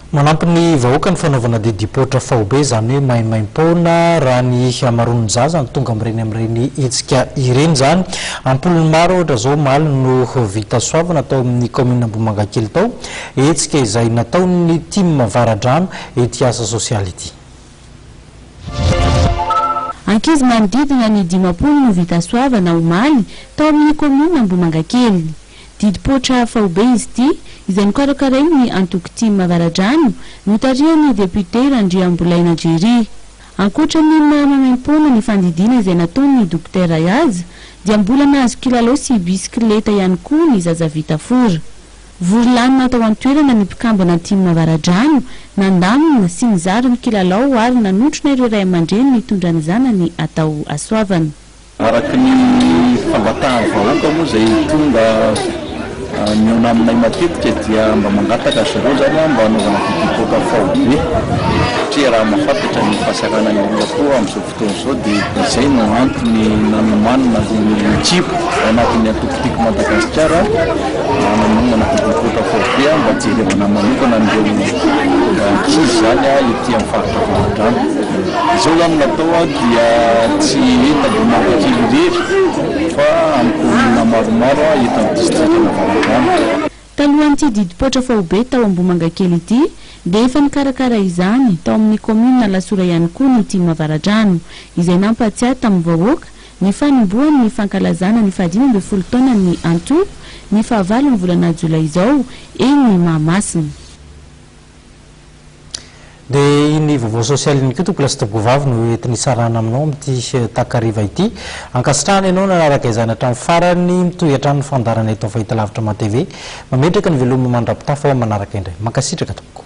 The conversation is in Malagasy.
Manampy ny vahoaka ny fanaovana didipoitra faobe, izany hoe maimaim-poana, raha ny hamaroan'ny zaza no tonga amin'ireny amin'ireny hetsika ireny izany. Am-polony maro ohatra izao omaly no vita soavana tao amin'ny kaominina Ambohimangakely tao, hetsika izay nataon'ny Tim Avaradrano ity asa sosialy ity. Ankizy manodidina ny dimampolo no vita soavana omaly tao amin'ny kaominina Ambohimangakely. Didim-poitra faobe izy ity, izay nokarakarain'ny antoko Tim Avaradrano, notarihan'ny depiote Randriambolaina Jerry. Ankoatra ny maha maimaimpoana ny fandidiana izay nataon'ny dokotera azy, dia mbola nahazo kilalao sy bisikileta ihany koa ny zaza vita fora. Vory lanona tao an-toerana ny mpikambana antimo Avaradrano, nandamina sy nizara ny kilalao ary nanotrona ireo ray aman-dreny nitondra ny zanany hatao hasoavana. Araka ny fangatahan-vahoaka moa izay tonga mihaona aminay matetika dia mba mangataka ry zareo izany mba hanaovana vidéo poker faobe satria raha mahafantatra ny fahasaranan'ny olona koa amin'izao fotoana izao. Toa izao dia izay no antony nanomanana an'ireo ekipa ao anatin'ny antoko Tiako Madagasikara hananonana fotodrafitrasa foibe mba hijerevana manokana an'ireo ankizy izany ety amin'ny faritra Avaradrano. Izao izany no natao dia tsy eto Ambohimangakely irery fa amin'ny kaominina maromaro eto amin'ny distrikan'Avaradrano. Talohan'ity didim-poitra faobe tao Ambohimangakely ity dia efa nikarakara izany tao amin'ny kaominina Alasora ihany koa ny tim Avaradrano, izay nampahatsiahy tamin'ny vahoaka ny fanombohany ny fankalazana ny fahadimy ambin'ny folo taonan'ny antoko ny fahavalon'ny volana jolay izao eny Mahamasina. Dia iny vaovao sosialy iny koa tompoko lastibh vavy no entiny hitsarana aminao amin'ity takariva ity. Ankasitrahana ianao nanaraka izany hatramin'ny farany, mitohy hatrany ny fandaharana eto amin'ny Fahitalavitra Mah TV. Mametraka ny veloma mandrapitafa ho amin'ny manaraka indray. Mankasitraka tompoko.